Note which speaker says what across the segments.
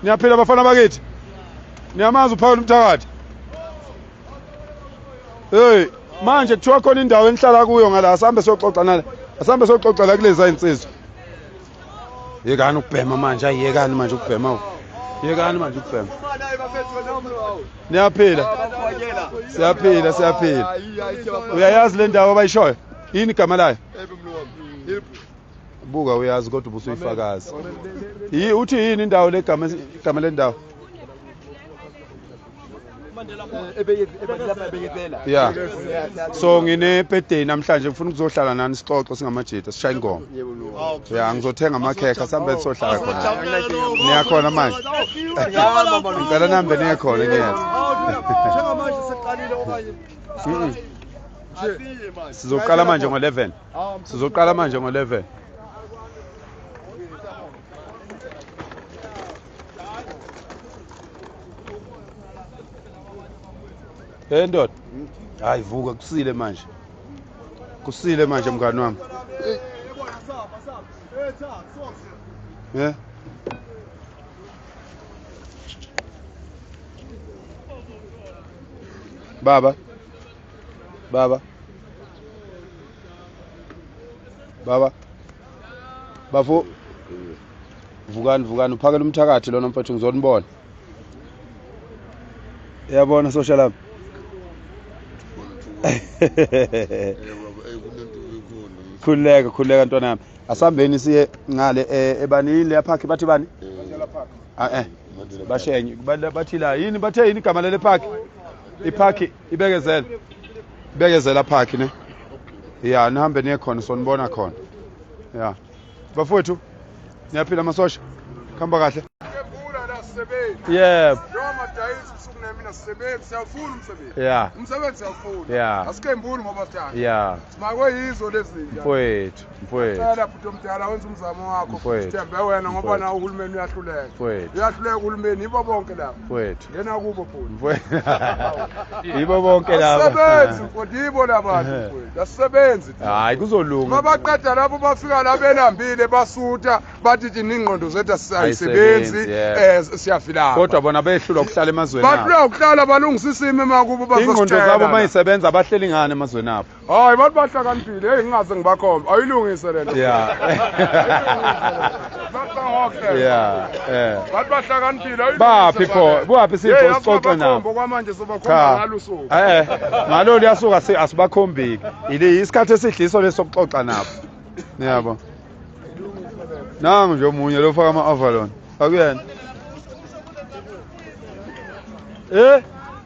Speaker 1: niyaphila bafana bakithi niyamazi uphawula umthakathi hey manje kuthiwa khona indawo enihlala kuyo ngala asambe soxoxa nala asambe soxoxa la kuleza insizwa yekani ukubhema manje ayekani manje ukubhema yekani manje ukubhema niyaphila siyaphila siyaphila uyayazi le ndawo abayishoyo yini igama layo buka uyazi kodwa ubusuyifakazi yi uthi yini indawo legama igama lendawo ya so nginepedeni namhlanje ngifuna ukuzohlala nani sixoxo singamajita sishaye ingoma ya ngizothenga amakhekha sihambe sizohlala khona niyakhona manje ngicela nihambe niye khona ngiyeza sizoqala manje ngo-11 sizoqala manje ngo-11 hey ndoda hayi vuka kusile manje kusile manje mngani wami yeah. baba Baba. Baba. Bafo. Vukani vukani uphakela umthakathi lona mfethu ngizonibona. Yabona social lami. khululeka khululeka ntwana yami asihambeni siye ngale eh, ebanini leya park bathi bani ah eh bashenye Ba- bathi la yini bathe yini igama lele park ipark ibekezela ibekezela phakhi ne ya nihambe niye khona sonibona khona ya bafowethu niyaphila amasosha kuhamba kahle yebo ya umsebenzi
Speaker 2: siyawufuna ya asikembuli ngoba
Speaker 1: sithanda
Speaker 2: ya simakwe
Speaker 1: yizo
Speaker 2: lezi mfowethu Ngicela
Speaker 1: bhuti
Speaker 2: omdala wenza umzamo wakho sithembe wena ngoba nawo uhulumeni uyahluleka uyahluleka uhulumeni yibo bonke laba ngena kubo bhuti
Speaker 1: yibo bonke laba asebenzi mfowethu yibo
Speaker 2: labantu mfowethu asebenzi hayi kuzolunga
Speaker 1: mabaqeda lapho bafika
Speaker 2: la belambile basutha bathi thina ingqondo zethu asisebenzi eh, siyafilana kodwa bona behlulwa
Speaker 1: ukuhlala emazweni abo bahlulwa ukuhlala balungisa
Speaker 2: isimo emakubo bazositshela ingqondo zabo
Speaker 1: mayisebenza bahleli ngani emazweni abo hayi abantu bahlakaniphile
Speaker 2: heyi ngingaze ngibakhombe ayilungise le nto
Speaker 1: yeah
Speaker 2: yeah eh bantu bahlakaniphile ayilungise baphi
Speaker 1: pho baphi sipho sixoxe nabo ngokwamanje sobakhomba
Speaker 2: ngalo suku eh ngalo
Speaker 1: liyasuka asibakhombiki ile isikhathi esidliso lesokuxoxa nabo niyabo nangu nje omunye lo faka ama-avalon akuyena eh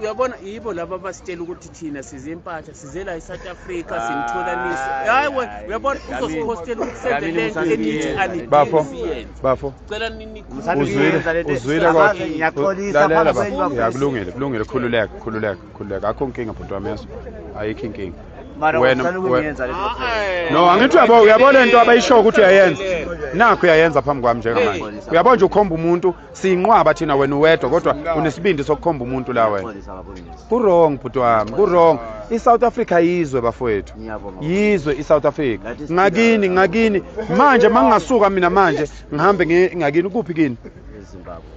Speaker 3: uyabona yibo laba abasitshela ukuthi thina size impahla size la e-south africa ah, sinitholanise hayi we uyabona uzosiphostela ukuthi senze le nto enithi anibafo
Speaker 1: cela ninikuzwilakwakulungile kulungile khululeka khululeka khululeka akho nkinga bhuti wami yeso ayikho inkinga wena ah, eh. no angithi uyabo uyabona into abayishoyo ukuthi uyayenza nakho uyayenza phambi kwami njengamanje uyabona nje ukhomba umuntu siyinqwaba thina wena uwedwa kodwa unesibindi sokukhomba umuntu la wena kurong bhuti wami kurong i-south africa yizwe bafowethu yizwe i-south africa ngakini ngakini manje ma ngingasuka mina manje ngihambe ngakini kuphi kini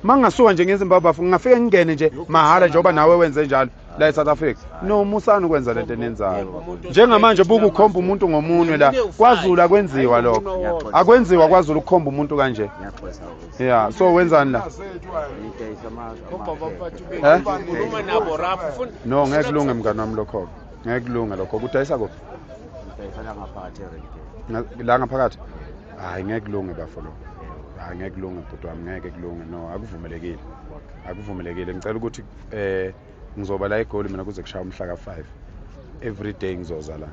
Speaker 1: ma ngingasuka nje ngezimbabwe bafo ngingafike ngingene nje mahhala njengoba nawe wenze njalo la eSouth Africa no musani ukwenza lento enenzayo njengamanje buku ukhomba umuntu ngomunwe la kwaZulu akwenziwa lokho akwenziwa kwaZulu ukukhomba umuntu kanje yeah so wenzani la eh? no ngeke kulunge mngani wami lokho ngeke kulunge lokho kudayisa kuphi la ngaphakathi hayi ngeke kulunge bafo lokho hayi ngeke kulunge bhuti wami ngeke kulunge no akuvumelekile akuvumelekile ngicela ukuthi eh ngizoba la egoli mina kuze kushaya umhla ka 5 every day ngizoza la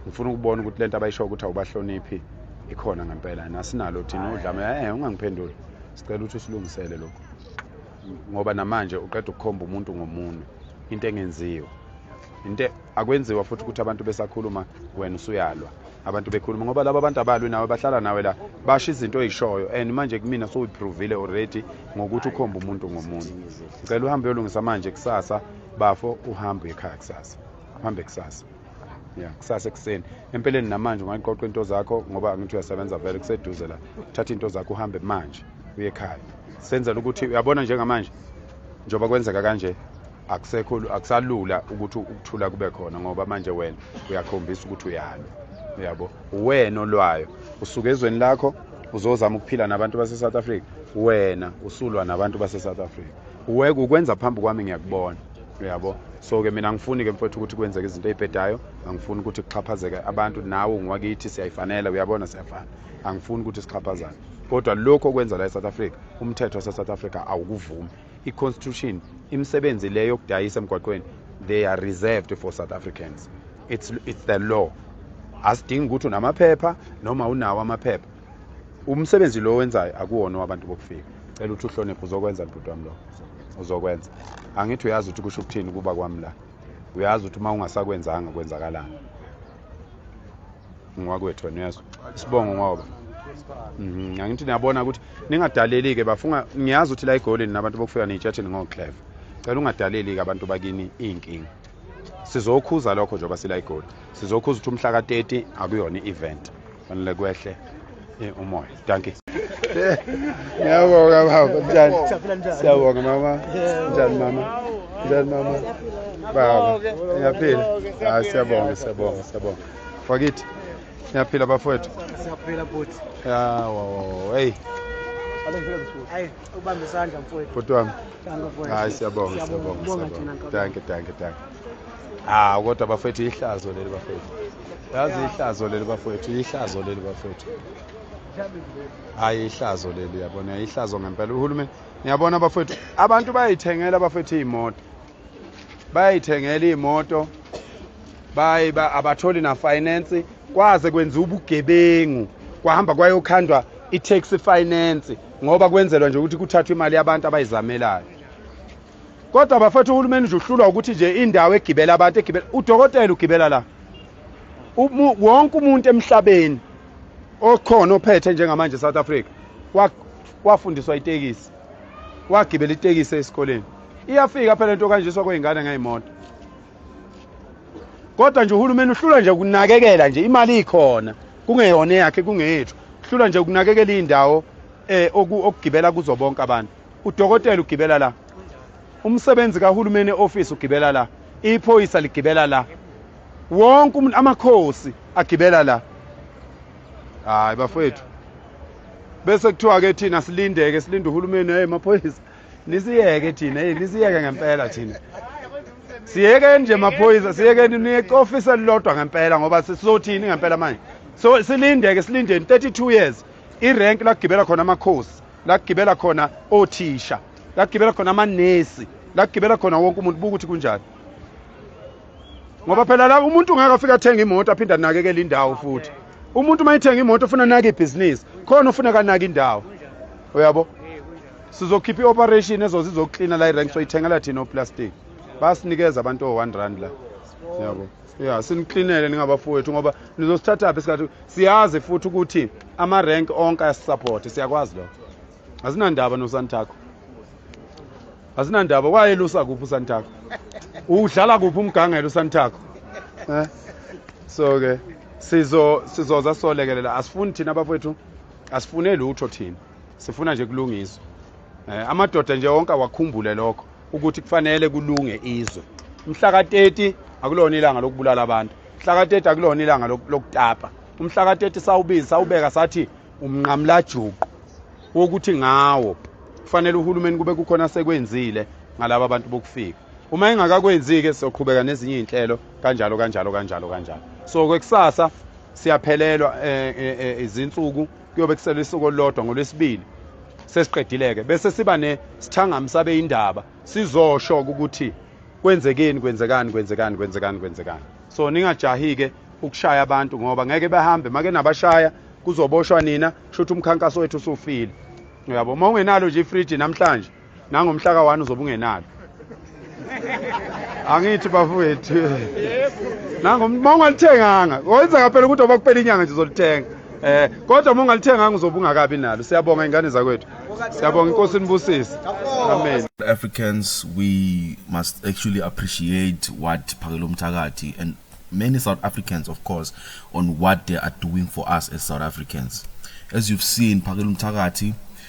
Speaker 1: ngifuna ukubona ukuthi lento abayisho ukuthi awubahloniphi ikhona ngempela nasinalo thina udlame eh ungangiphenduli sicela ukuthi usilungisele lokho ngoba namanje uqeda ukukhomba umuntu ngomunwe into engenziwe into akwenziwa futhi ukuthi abantu besakhuluma wena usuyalwa abantu bekhuluma ngoba laba abantu abalwi nawe bahlala nawe la basho izinto oyishoyo and manje kumina sowuyiprovile already ngokuthi ukhomba umuntu ngomuntu ngicela uhambe uyolungisa manje kusasa bafo uhambe ekhaya kusasa uhambe kusasa ya kusasa ekuseni empeleni namanje ungayiqoqa into zakho ngoba angithi uyasebenza vele kuseduze la thatha into zakho uhambe manje uye ekhaya senzela ukuthi uyabona njengamanje njengoba kwenzeka kanje akusekho akusalula ukuthi ukuthula kube khona ngoba manje wena uyakhombisa ukuthi uyalwa uyabo uwena olwayo usuke ezweni lakho uzozama ukuphila nabantu base-south africa wena usulwa nabantu base-south africa uweke ukwenza phambi kwami ngiyakubona uyabo so ke mina angifuni ke mfowethu ukuthi kwenzeke izinto eyibhedayo angifuni ukuthi kuxhaphazeke abantu nawe ungiwakithi siyayifanela uyabona siyafana angifuni ukuthi sixhaphazane kodwa lokhu okwenza la e-south africa umthetho wase-south africa awukuvumi i-constitution imisebenzi le yokudayisa emgwaqweni they are reserved for south africans it's, it's the law asidingi ukuthi unamaphepha noma unawo amaphepha umsebenzi lo wenzayo akuwona wabantu bokufika cela ukuthi uhloniphe uzokwenza libhuti wami lo uzokwenza angithi uyazi ukuthi kusho ukuthini kuba kwami la uyazi ukuthi uma ungasakwenzanga kwenzakalani ngwakwethu wena uyezwa isibongo ngoba mhm, angithi niyabona ukuthi ningadaleli-ke bafunga ngiyazi ukuthi la egolini nabantu bokufika niyitshatheni ngocleve cela ungadaleli-ke abantu bakini iy'nkinga sizokhuza lokho njengoba sila igoli sizokhuza ukuthi umhla ka-30 akuyona i-event fanele kwehle Eh, umoya dankie ngiyabonga baba njani siyabonga mama njani mama njani mama baba ngiyaphila hayi siyabonga siyabonga siyabonga fakithi ngiyaphila bafowethu siyaphila bhuti
Speaker 4: yawo heyi ubambe isandla mfowethu bhuti wami
Speaker 1: hayi siyabonga siyabonga danke danke danke hawu kodwa bafethu ihlazo leli bafethu yazi ihlazo leli bafethu ihlazo leli bafethu hayi ihlazo leli yabona ihlazo ngempela uhulumeni niyabona bafethu abantu bayayithengela bafethu iy'moto bayayithengela iy'moto bayi abatholi nafinance kwaze kwenziwa ubugebengu kwahamba kwayokhandwa i-taxi finance ngoba kwenzelwa nje ukuthi kuthathwe imali yabantu abayizamelayo Kodwa bafethu uhulumeni nje uhlulwa ukuthi nje indawo egibela abantu egibela udokotela ugibela la. Wonke umuntu emhlabeni okhona ophethe njengamanje South Africa wafundiswa itekisi. Wagibela itekisi esikoleni. Iyafika phela into kanje sokwengane ngayimoto. Kodwa nje uhulumeni uhlulwa nje ukunakekela nje imali ikhona kungeyona yakhe kungeyethu. Uhlulwa nje ukunakekela indawo eh okugibela kuzo bonke abantu. udokotela ugibela la umsebenzi kahulumeni e-ofisi ugibela la iphoyisa ligibela la wonke umuntu amakhosi agibela la hayi bafowethu bese kuthiwa ke thina silindeke silinde uhulumeni hey maphoyisa nisiyeke thina hey nisiyeke ngempela thina siyekeni nje maphoyisa siyekeni niyecofisa lilodwa ngempela ngoba sizothini ngempela manje so silindeke silindeni 32 years irenki lakugibela khona amakhosi la kugibela khona othisha la kugibela khona amanesi la kugibela khona wonke umuntu buka ukuthi kunjani ngoba phela la umuntu ungeke afike athenga imoto aphinde anakekele indawo futhi umuntu uma ethenga imoto ufuna anake ibhizinisi khona ufuna kanaka indawo uyabo sizokhipha i-operation ezoze izoklina la irank soyithengela thina oplastic basinikeza abantu o-one rand la yabo ya siniklinele ningabafowethu ngoba nizosithathaphi isikhathi siyazi futhi ukuthi ama-rank onke ayasisapothe siyakwazi lokho asinandaba nosantakho asinandaba wayelusa kuphi usantakho udlala kuphi umgangela usantakho eh? so ke sizo sizoza solekelela asifuni thina bafowethu asifune lutho thina sifuna nje kulungiswa eh, amadoda nje wonke awakhumbule lokho ukuthi kufanele kulunge izwe umhla ka-30 akulona ilanga lokubulala abantu umhla ka-30 akulona ilanga lokutapa umhla ka-30 sawubizi sawubeka sathi umnqamlajuqu wokuthi ngawo kufanele uhulumeni kube kukhona sekwenzile ngalaba bantu bokufika uma engakakwenzi-ke sizoqhubeka nezinye iy'nhlelo kanjalo kanjalo kanjalo kanjalo so kwekusasa siyaphelelwa um izinsuku kuyobe kusele isuku olulodwa ngolwesibili sesiqedileke bese siba nesithangami sabe indaba sizosho ukuthi kwenzekeni kwenzekani kwenzekani kwenzekani kwenzekani so ningajahi-ke ukushaya abantu ngoba ngeke bahambe make nabashaya kuzoboshwa nina kusho ukuthi umkhankaso wethu usufile uyabo uma ungenalo nje ifriji namhlanje nangomhla ka-one uzobe ungenalo angithi bafowethu nango uma ungalithenganga wenza kaphela ukuthi oba kuphela inyanga nje uzolithenga eh kodwa uma ungalithenganga uzobe ungakabi nalo siyabonga ingane zakwethu siyabonga inkosi inibusise amen africans
Speaker 5: we must actually appreciate what phakelo mthakathi and many south africans of course on what they are doing for us as south africans as you've seen phakelo mthakathi